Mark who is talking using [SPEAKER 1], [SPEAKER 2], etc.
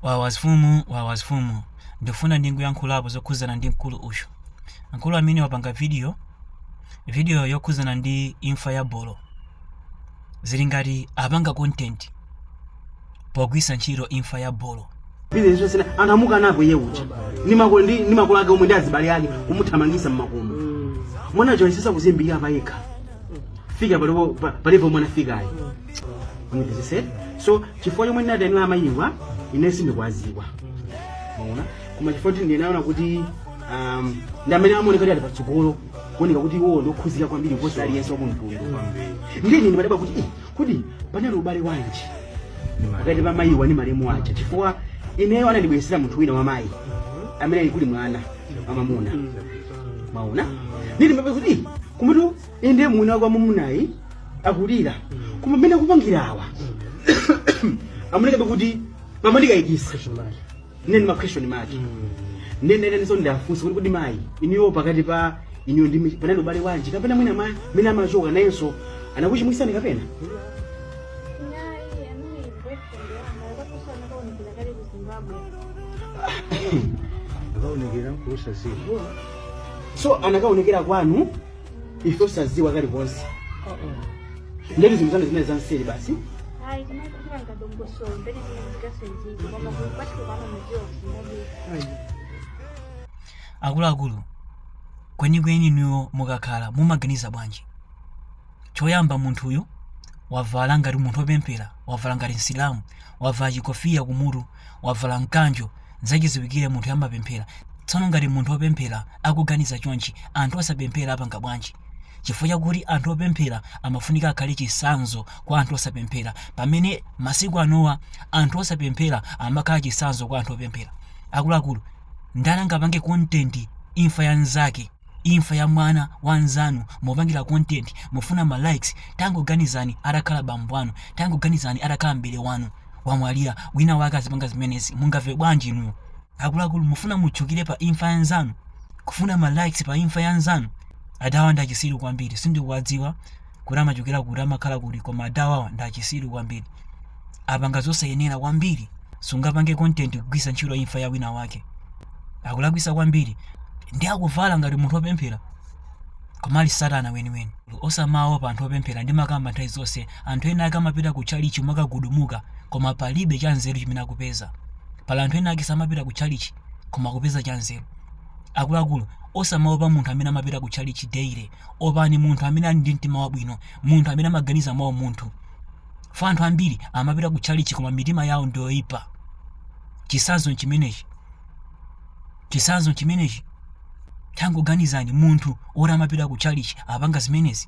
[SPEAKER 1] wawa mfumu wawa mfumu ndifuna ndingoyankhulapo zokhudzana ndi mkulu uyu mkulu amene wapanga video video yokhudzana ndi imfa ya bolo zili ngati apanga content pogwiritsa ntchito imfa ya bolo Izi zose na anthu amuka napo iye uja. Ni makolo ndi ni makolo ake omwe ndi azibale ake kumuthamangisa mmakomo. Mwana joyisisa kuzimbira pa yekha. Fika palipo palipo mwana fikayi. Univesese. So chifukwa chomwe ndinanenera amayiwa ine sindikwaziwa. Maona. Koma chifukwa kuti ndinaona kuti um, ndi amene amaoneka kuti ali patsogolo kuoneka kuti iwo ndiokhuzika kwambiri kuposa aliyense wa kumtundu. Ndiye ine ndimadabwa kuti eh, kodi panali ubale wanji pakati pa mayiwa ndi malemu aja chifukwa ineyo anandibweretsera munthu wina wa mayi amene ali kuli mwana wamamuna maona ndili mbabe kuti eh, kumutu inde mwini wake wamunayi akulira koma mmene akupangira awa amunekabe kuti mamandikayikisa nene ma question mati nene nene so ndafunsa kuti kodi mayi inuyo pakati pa inuyo ndi panali ubale wanji kapena mwina ma mene amachoka nayenso anakuchimwisani kapena Naye amene boyfriend wanga akaposa anakaonekera kale ku Zimbabwe. akaonekera nkulusasira so anakaonekera kwanu ife osadziwa kalikonse nde ndi zinthu zanu zimene zanseri basi Hayi, kumele kuba ngabongosolo, mbele ndingasenzizi, ngoba kubathi kubaba mjiwa kusingabi. akuluakulu kwenikweni inuyo mukakhala mumaganiza bwanji choyamba munthuyu wavala ngati munthu wopemphera wavala ngati msilamu wavala chikofiya kumutu wavala mkanjo zachidziwikire munthuyu amapemphera tsono ngati munthu wopemphera akuganiza chonchi anthu osapemphera apanga bwanji chifukwa chakuti anthu opemphera amafunika akhale chisanzo kwa anthu osapemphera pamene masiku anowa anthu osapemphera amakhala chisanzo kwa anthu opemphera akuluakulu ndani angapange kontenti imfa ya nzake imfa ya mwana wa nzanu mupangira kontenti mufuna ma likes tangoganizani atakhala bambo anu tangoganizani atakhala m'bale wanu wamwalira wina wake azipanga zimenezi mungamve bwanji inuyo akuluakulu mufuna mutchukire pa imfa ya nzanu kufuna ma likes pa imfa ya nzanu adawa ndi achitsiru kwambiri sindikuwadziwa kuti amachokera kuti amakhala kuti koma adawawa ndi achitsiru kwambiri apanga zosayenera kwambiri sungapange content kugwiritsa ntchito imfa ya wina wake akulakwisa kwambiri ndi akuvala ngati munthu wopemphera koma ali satana weniweni Osamaopa anthu opemphera ndimakamba nthawi zonse anthu ena ake amapita ku tchalitchi kumakagudumuka koma palibe cha nzeru chimene akupeza pali anthu ena ake samapita ku tchalitchi koma akupeza cha nzeru akuluakulu osamaopa munthu amene amapita ku tchalitchi daily opani munthu amene ali ndi mtima wabwino munthu amene amaganiza mwa umunthu fa anthu ambiri amapita ku tchalitchi koma mitima yawo ndiyoipa chisanzo nchimenechi Chitsanzo nchimenechi. Tangoganizani, munthu woti amapita kutchalitchi apanga zimenezi.